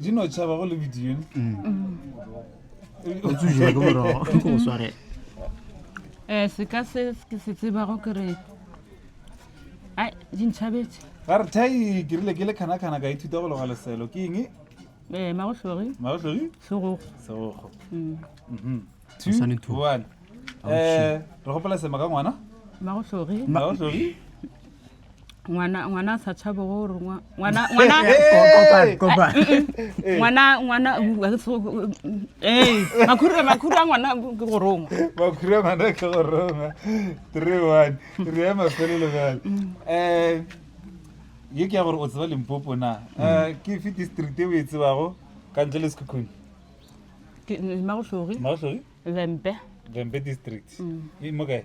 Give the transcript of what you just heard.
di no tšhaba go le bidione o tsujola ke morogo o sware um seka se ke se tsebago ke re ai di ntšhabetse ga re thai ke rile ke le kganakgana ka ithuta go loga leselo ke eng um magotlogi magotlogi segogo segogo mm. mhm. two one um re gopela sema ka ngwana magotlogi magotlogi ngwana ngwana a sa tshabe go rongwa ngwana ngwana Kopane, kopane. Eh, ngwana ngwana uh, a ke se- eh makhuru makhuru a ngwana ke go rongwa makhura ngwana ke go roma three one re ya mafelelo bjale um ye ke ya gore o tseba limpopo na Eh, ke fe district e o e tsebago ka ntle le sekhukhune ke magohlogi magotlhoe lempe vembe district e mo kae